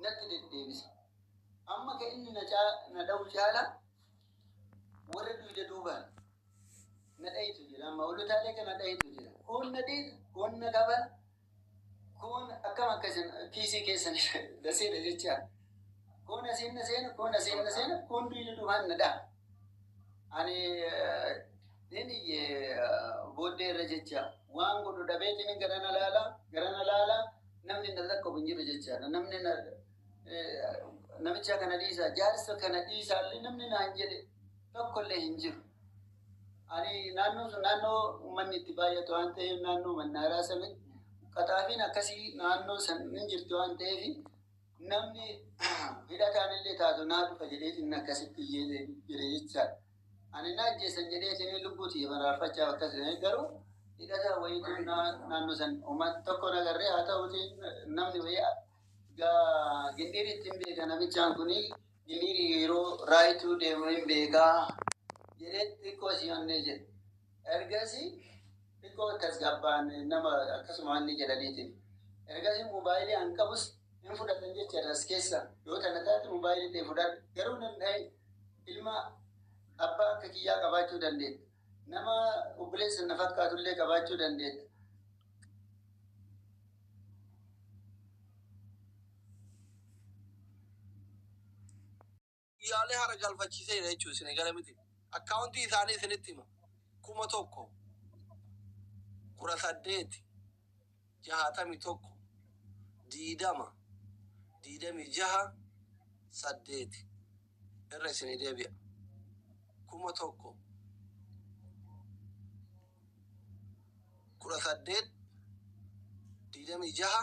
natti deddeebisa. Amma ka inni na caa- na dha'u caala warra duyda duubaan na dhahitu jira. Amma hoolotaalee ka na dhahitu jira. Kuun na dhiita, kuun na kabala, kuun akkam akka isin kiisii keessan na seena jechaa. Kuun asiin na seena, kuun asiin na seena, kuun duyda duubaan na dhaha. Ani nin iyye booddee irra jecha waan godhu dhabeetiin gara na laala gara na laala namni na lakkabu hin jiru jechaadha. Namni na namicha kana dhiisa jaarsa kana dhiisaallee namni naan jedhe tokkollee hin jiru. Ani naannoo sun naannoo uummanni itti baay'atu waan ta'eef naannoo mannaaraa sanitti qaxaafiin akkasii naannoo san hin jirti waan ta'eef Namni hidhataanillee taatu naa dhufa jedheetiin akkasitti iyyee jire jechaadha. Ani na ajjeesan jedheetiin lubbuu tiyya baraarfachaaf akkas jedhanii garuu hidhataa wayiitu naannoo san uummata tokko nagarree haa ta'uuti namni wayii gaa gindhiirii ittiin beeka namichaan kun gindhiirii yeroo raayituu deemu hin beekaa jedhee xiqqoo si onnee jedhe. Ergasi xiqqoo tasgabbaan nama akkasuma wanni jedhaniitiin. Ergasi mobaayilii an qabus hin fudhatan jecha as keessa yoo tana taate mobaayilii ta'e fudhadha. Garuu nan dhahin ilma abbaa akka kiyyaa qabaachuu dandeetta. Nama obboleessa na fakkaatu illee qabaachuu dandeetta. Guyyaalee hara galfachiiseera jechuun isin eegale miti. Akkaawuntii isaanii isinitti hima. kuma tokko kudha saddeeti jahaatami tokko diidama diidami jaha saddeeti irra isinii deebi'a. kuma tokko kudha saddeet diidami jaha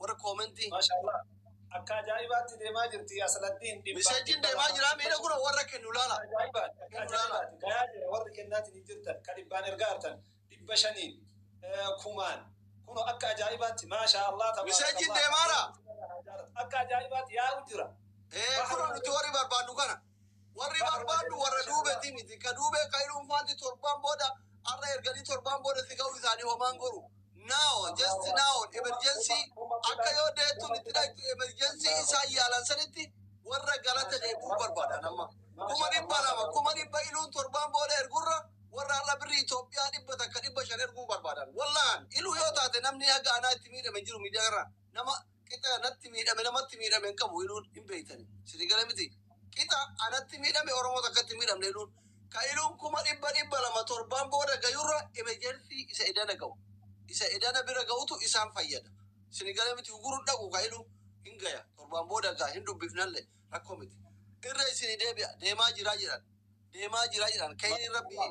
warra koomentii. Maashaallah. Akka ajaa'ibaatti deemaa jirti Asaladdiin dhibbaa. Misejjiin deemaa jira miidha kun warra kennu laala. Ajaa'ibaati. Akka ajaa'ibaati. Gayaa jira warri kennaatiin hin jirtan ka dhibbaan ergaa hartan dhibba shaniin kumaan kuno akka ajaa'ibaatti maashaallah tabaarakallah. Misejjiin deemaara. Akka ajaa'ibaatti yaa'u jira. Ee kuno nuti warri barbaannu kana. Warri barbaaddu warra duubetii miti. Ka duubee Kayruun faanti torbaan booda arra erganii torbaan booda si gahuu isaanii homaan goru. Now, just now, emergency akka yoo deettuun itti dhayxu emergency isaan yaalan sanitti warra galata deebi'uu barbaadan amma. Kuma dhibba lama, kuma dhibba iluun torbaan booda ergurra warra arra birri Itoophiyaa dhibba takka dhibba shan erguu barbaadan. Wallahan, iluu yoo taate namni haga anaa itti miidhame hin jiru miidiyaa irraa. Nama qixa natti miidhame namatti miidhame hin qabu iluun hin beektani sini gala miti qixa anatti miidhame oromoo takkatti hin miidhamne iluun ka iluun kuma dhibba dhibba lama torbaan booda gayurra emerjensii isa edana ga'u isa edana bira ga'utu isaan fayyada sini gala miti uguru dhaqu ka iluun hin gaya torbaan booda gaa hin dubbifnalle rakkoo miti irra isini deebi'a deemaa jiraa jedhan deemaa jiraa jedhan kayni rabbii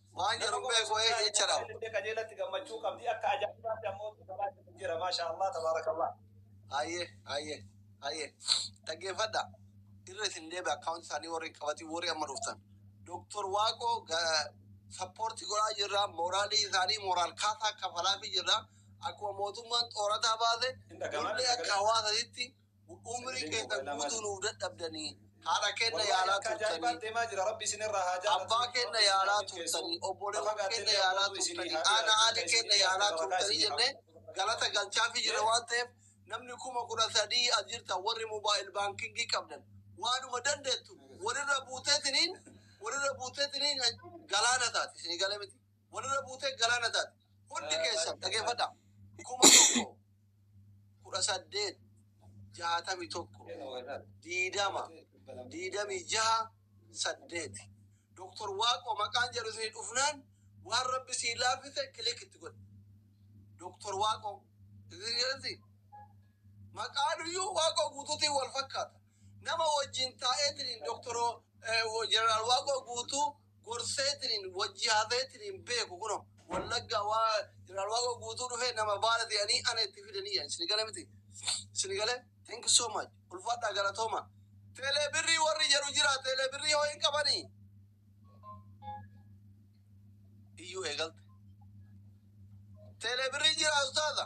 Waan jedhu beeku ee jecha dhabu. Illee qajeelatti gammachuu qabdi akka ajaa'ibaatti ammoo gabaatti hin jira maashaa Allah tabaarakallah. Haye haye haye dhaggeeffadha irra isin deebi akkaawunti isaanii warri qabatii warri amma dhuftan doktor waaqoo sappoortii godhaa jirra mooraalii isaanii mooraal kaasaa kafalaafii jirra akkuma mootummaan xoorataa baase Hin dhaga'amaa illee akka hawaasatitti Umrii keessan guutuu nuuf dadhabdanii, haadha keenna yaalaa turtanii, abbaa keenna yaalaa turtanii, obboleewwan keenna yaalaa turtanii, haadha haadhi keenna yaalaa turtanii jennee galata galchaafii jirra waan ta'eef namni kuma kudha sadii as jirtan warri mobile banking qabdan waanuma dandeettu walirra buuteetiniin walirra buuteetiniin galaana taati isinii gale miti. walirra buutee galaana taate. Hundi keessan dhageeffadhaa. kuma tokko kudha saddeet jaatami tokko diidama diidami jaha saddeeti. Doktor Waaqoo maqaan jedhu isinii dhufnaan waan rabbi sii laafise kilik itti godhe. Doktor Waaqoo isin jedhanti maqaan iyyuu Waaqoo guutuutiin wal fakkaata. Nama wajjin taa'eetiin doktoroo jeneraal Waaqoo guutuu gorseetiniin wajji haasayeetiniin beeku kuno wallaggaa waa jeneraal waaqoo guutuu dhufee nama baala ta'anii ana itti fidanii jedhan isin gale miti isin gale thank you so much ulfaadhaa galatooma teelee birrii warri jedhu jira teelee birrii hoo hin qabanii iyyuu eegalte teelee birrii jira ustaaza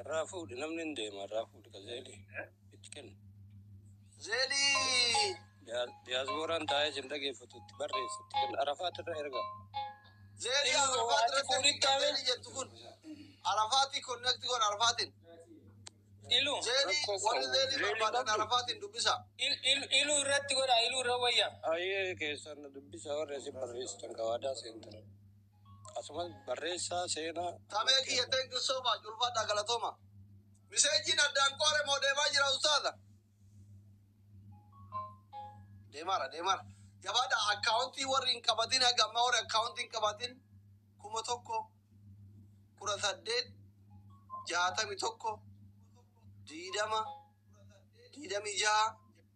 Irraa fuudhi namni hin deema irraa fuudhi ka zeelii itti kenni. Zeelii. Diyaasbooraan taa'ee isin dhageeffatu itti barreessi itti kenni arafaat irra erga. Zeelii arafaat irra fuudhi zeelii jettu kun arafaati konnekti kun arafaatiin. Ilu. Zeelii warri zeelii barbaadan arafaatiin dubbisa. Ilu irratti godha ilu irra wayya. Ayyee keessan dubbisa warra isin barreessitan ka waadaa seentan. Akkasumas barreessaa seenaa. Tamee kiyya thank you so much ulfaadhaa galatoomaa. Miseejiin addaan qoore moo deemaa jira ustaaza? Deemaara deemaara. Jabaadhaa akkaawuntii warri hin qabatin haga ammaa warri akkaawuntii hin qabatin kuma tokko kudha saddeet jaatami tokko diidama diidamii jaha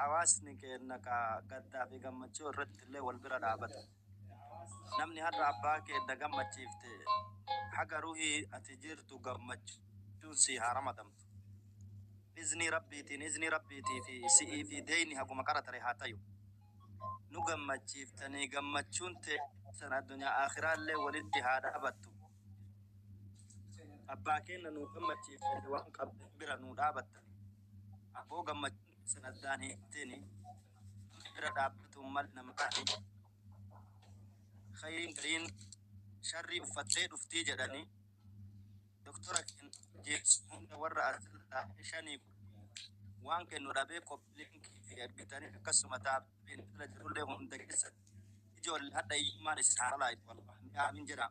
Hawaasni keenna ka gaddaa fi gammachuu irratti illee wal bira dhaabata. Namni har'a abbaa keenna gammachiifte haga ruhii ati jirtu gammachuun sii haa ramadamtu. Iznii Rabbiitiin, iznii Rabbiitii fi si'ii fi deeyni haguma qara tare haa tayu. Nu gammachiiftanii gammachuun teessan addunyaa aakhiraa illee walitti haa dhaabattu. Abbaa keenna nu gammachiiftanii waan qabdan bira nu dhaabattan. Aboo gammachuun isin addaan hiikteni rabbi bira dhaabbatuun mal nama dhaabe kayriin gariin sharrii uffattee dhuftii jedhani doktora keen jeesu hunda warra asirra taa'ee shanii kudhan waan kennu dhabee copy link fi ergitani akkasuma taabbiin irra jirullee hunda keessatti ijoolle hadha hiyyummaan isin haa balaa'itu wallah mee aamiin jedhaa.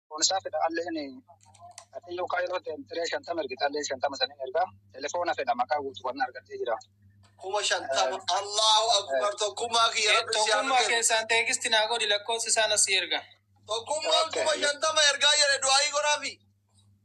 Kunis fedha alleen Waaqayyoo Kaayiroo teemtiree shantama ergite alleen shantama saniin ergaa telefoona fedha maqaa guutuu kan argattee jira. Kuma shantama Allahu Akbar tokkummaa kiyya rabbi si haa Tokkummaa milkeessu. keessaan teekisti naa godhi lakkoofsa isaan asii erga. Tokkummaan kuma shantama ergaa jedhe du'aayii godhaafi.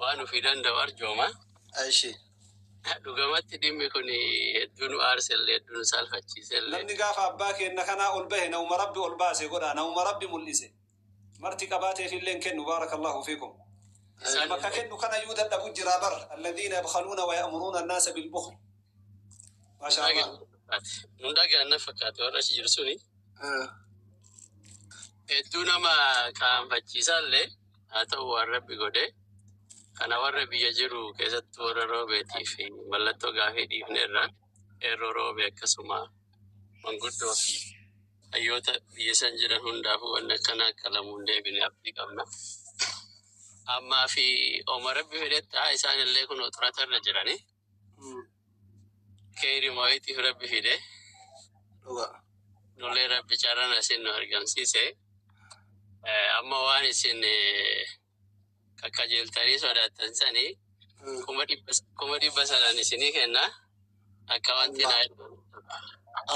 Waan ofii danda'u arjooma. Eshi. Dhugamatti dhimmi kun hedduu nu aarsellee hedduu nu saalfachiisellee. Namni gaafa abbaa keenna kanaa ol bahe nauma rabbi ol baase godhaa nauma rabbi mul'ise marti qabaateefillee hin kennu baarakallahu fiikum Isaan bakka kennu kanayuu dadhabu jiraa bar alladhiina yabkhaluuna waya'muruuna annaasa bilbukhli maashaa Allah Nun dhagaan na fakkaate warra achi jiru suni hedduu nama qaanfachiisallee. haa ta'u waan Rabbi godhe kana warra biyya jiru keessattuu warra Roobeetiif mallattoo gaafii dhiifneerra, qeerroo Roobee akkasuma manguddoo fi hayyoota biyya san jiran hundaafuu wanni akkanaa akka lamu hin deebine abdii qabna. Ammaa fi oma Rabbi fedhetti haa isaanillee kunoo xuratarra jirani. Keeyri maayitiif rabbi fide dhuga nullee rabbi carrana isin nu argamsiise amma waan isin kakkajeeltanii sodaattan sani kuma dhibba kuma dhibba sanan isinii kenna akka wanti naa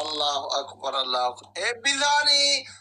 Allahu akbar Allahu akbar. Eebbisaanii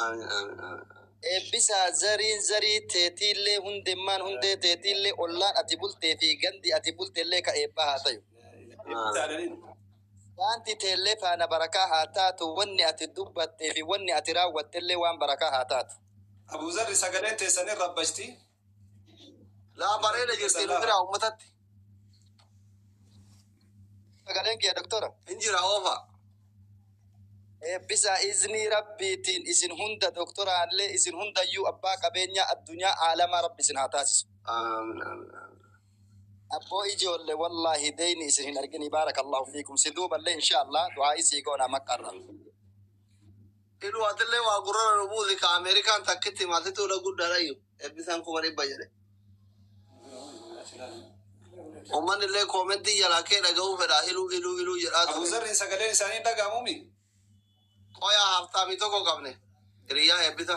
Aamin aamin aamin. Eebbisaa zariin zarii teetiillee hundemmaan hundee teetiillee ollaan ati bultee fi gandi ati bultellee ka eebbaa haa tayu. Daanti teellee faana barakaa haa taatu wanni ati dubbattee fi wanni ati raawwattellee waan barakaa haa taatu. Abu Zarri sagaleen teessan hin rabbashti. Laa bareeda jirti nu biraa uummatatti. Sagaleen kiyya doktora. Hin jira oofa. Eebbisa iznii rabbiitiin isin hunda doktoraallee isin hundayyuu abbaa qabeenyaa addunyaa aalamaa rabbi isin haa taasisu. Aamin aamin aamin. Abboo ijoolle wallaahi deeyni isin hin argini baarakallahu fiikum si duuballee inshaallah du'aa'ii sii goona maqaarra. hidhuu atillee waa gurrara nu buusi ka Ameerikaan takkitti hima situu na guddaadhayyu ebbisaan kuma dhibba jedhe ummanni illee koomentii jalaa kee dhaga'uu fedhaa iluu iluu iluu jedhaa ture. Abuzarriin sagaleen isaanii dhaga'amuu mi? Qoyaa haaftaamii tokko qabne hiriyyaa eebbisa.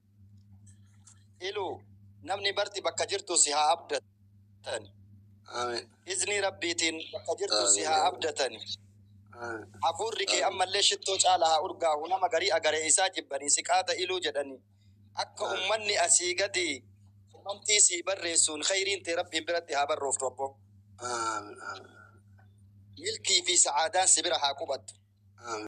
Iluu namni marti bakka jirtu si haa abdatani. Amen. Iznii Rabbiitiin bakka jirtu si haa abdatani. Hafuurri kee ammallee shittoo caala haa urgaahu nama garii agaree isaa jibbanii si qaata iluu jedhani. Akka ummanni asii gadii komantii sii barreessuun khayriin tee Rabbiin biratti haa barrooftu abbo. Amen. Amen. Milkii fi sa'aadaan si bira haa qubattu. Amen.